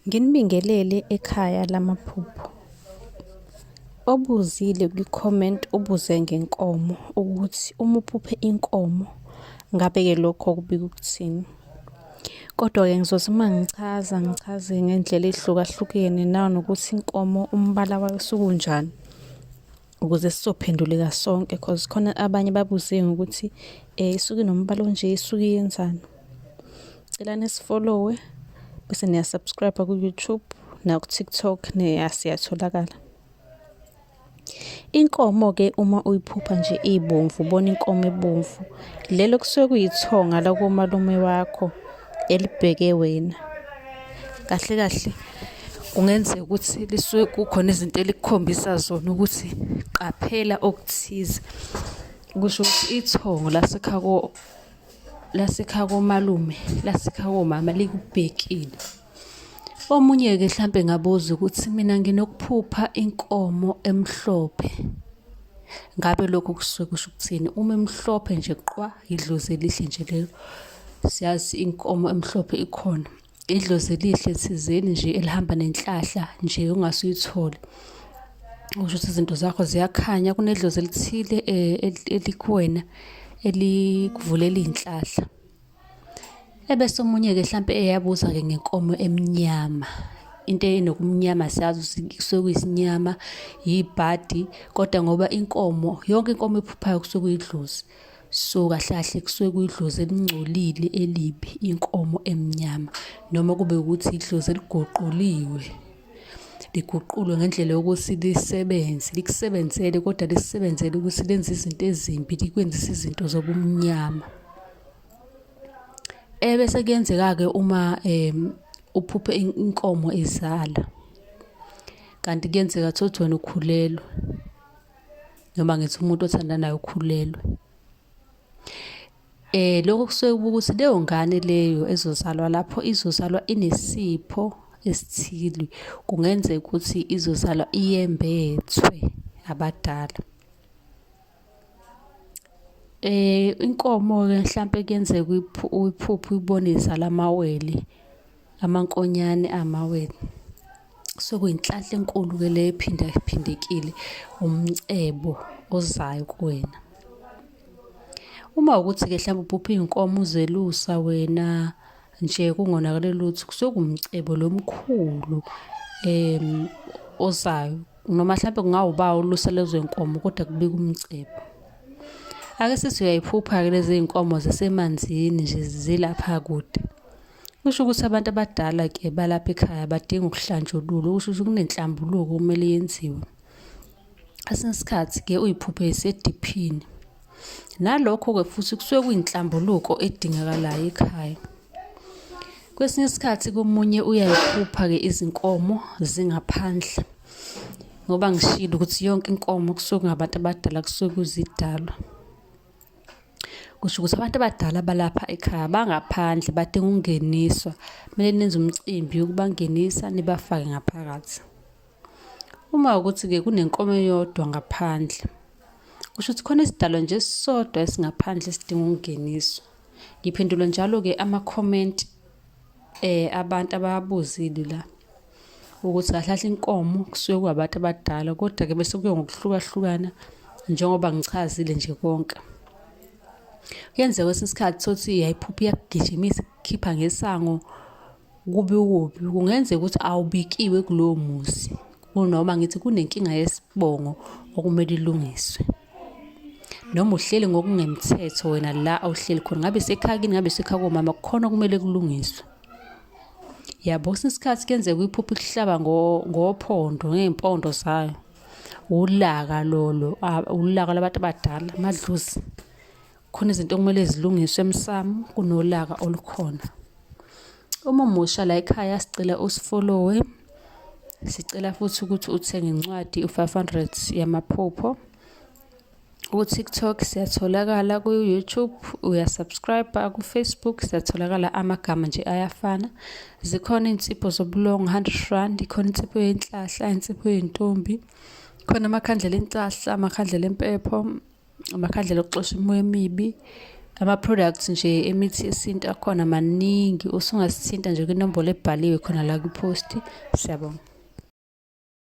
Nginibingelele ekhaya lamaphupho. Obuzile kwi-comment ubuze ngenkomo ukuthi uma uphuphe inkomo ngabe-ke lokho kubika ukuthini. Kodwa-ke ngizothi uma ngichaza ngichaze ngendlela ey'hlukahlukene nanokuthi inkomo umbala wayo usukunjani. ukuze sizophenduleka sonke cause khona abanye babuze ngokuthi eh isuke nombala onje isuke yenzani cela nisifollowe bese niya subscribe ku YouTube na ku TikTok ne asiyatholakala Inkomo ke uma uyiphupha nje ibomvu ubona inkomo ebomvu lelo kusuke kuyithonga lakomalume wakho elibheke wena kahle kahle kungenzeka ukuthi lisuke kukhona izinto elikukhombisa zona ukuthi qaphela okuthize kusho ukuthi ithongo lasekha ko lasekha komalume lasekha komama likubhekile omunye-ke mhlampe ngabuza ukuthi mina nginokuphupha inkomo emhlophe ngabe lokho kusuke kusho ukuthini uma emhlophe nje qwa yidlozi elihle nje lelo siyazi inkomo emhlophe ikhona idlozi elihle thizeni nje elihamba nenhlahla nje ungase uyithole usho ukuthi izinto zakho ziyakhanya kunedlozi elithile eh, elikuwena elikuvulela iy'nhlahla ebese omunye-ke hlampe eyabuza-ke ngenkomo emnyama into enokumnyama siyazi kusuke kuyisinyama yibhadi kodwa ngoba inkomo yonke inkomo ephuphayo kusuke kuyidlozi So kahle kahle kusuke kuyidlozi elingcolile elibi inkomo emnyama noma kube ukuthi idlozi eliguquliwe liguqulwe ngendlela yokuthi lisebenze likusebenzele kodwa lisebenzele ukuthi lenze izinto ezimbi likwenzise izinto zobumnyama ebese kuyenzeka-ke uma um uphuphe inkomo izala kanti kuyenzeka thothi wena ukhulelwe noma ngithi umuntu othandanayo ukhulelwe eh lokho kusuke ukuthi leyo ngane leyo ezozalwa lapho izozalwa inesipho esithile kungenzeka ukuthi izozalwa iyembethwe abadala eh inkomo ke mhlambe kuyenzeka uyiphuphe uyibone izala amawele amankonyane amawele so kuyinhlahla enkulu ke le ephinda phindekile umcebo ozayo kuwena uma ukuthi ke mhlawumbe uphupha izinkomo uzelusa wena nje kungonakele lutho kusekumcebo lomkhulu em ozayo noma mhlawumbe kungawuba ulusa lezo zinkomo kodwa kubika umcebo ake sisi uyayiphupha ke lezi zinkomo zisemanzini nje zilapha kude Kusho ukuthi abantu abadala ke balapha ekhaya badinga ukuhlanjululwa kusho ukuthi kunenhlambuluko kumele yenziwe. Kwesinye isikhathi ke uyiphuphe isediphini. Nalokho ke futhi kusuke kuyinhlambuluko edingakalayo ekhaya. Kwesinye isikhathi komunye uyayiphupha ke izinkomo zingaphandle. Ngoba ngishilo ukuthi yonke inkomo kusuke kungabantu abadala kusuke kuzidalwa. kusho ukuthi abantu abadala balapha ekhaya bangaphandle badinga ukungeniswa kumele nenze umcimbi yokubangenisa nibafake ngaphakathi uma ukuthi-ke kunenkomo eyodwa ngaphandle kusho ukuthi khona isidalwa nje esisodwa esingaphandle esidinga ukungeniswa ngiphendula njalo-ke amakhomenti um eh, abantu abawabuzile la ukuthi kahle kahle inkomo kusuke kuwabantu abadala kodwa-ke bese kuye ngokuhlukahlukana njengoba ngichazile nje konke kuyenzeka kwesinye isikhathi sothi yayiphupha iyakugijimisa ikhipha ngesango kubi kubi kungenzeka ukuthi awubikiwe kulowo muzi kunoma ngithi kunenkinga yesibongo okumele ilungiswe noma uhleli ngokungemthetho wena la awuhleli khona ngabe sekhakini ngabe sekhaya komama kukhona okumele kulungiswe yabo kwesinye isikhathi kuyenzeka uyiphuphe ikuhlaba ngophondo ngey'mpondo zayo wulaka lolo wulaka labantu abadala amadlozi khona izinto okumele zilungiswe emsamo kunolaka olukhona uma umusha la ekhaya sicela usifolowe sicela futhi ukuthi uthenge incwadi u-500 yamaphupho Ku-TikTok siyatholakala, ku-YouTube uyasubscribe-a, ku-Facebook siyatholakala amagama nje ayafana. Zikhona iy'nsipho zobulongo, hundred rand, ikhona insipho yenhlahla, insipho yentombi, khona amakhandlela enhlahla, amakhandlela empepho, amakhandlela okuxosha imimoya emibi. Ama-products nje emithi yesintu akhona maningi, usungasithinta nje kwinombolo ebhaliwe khona la kwi-post. Siyabonga.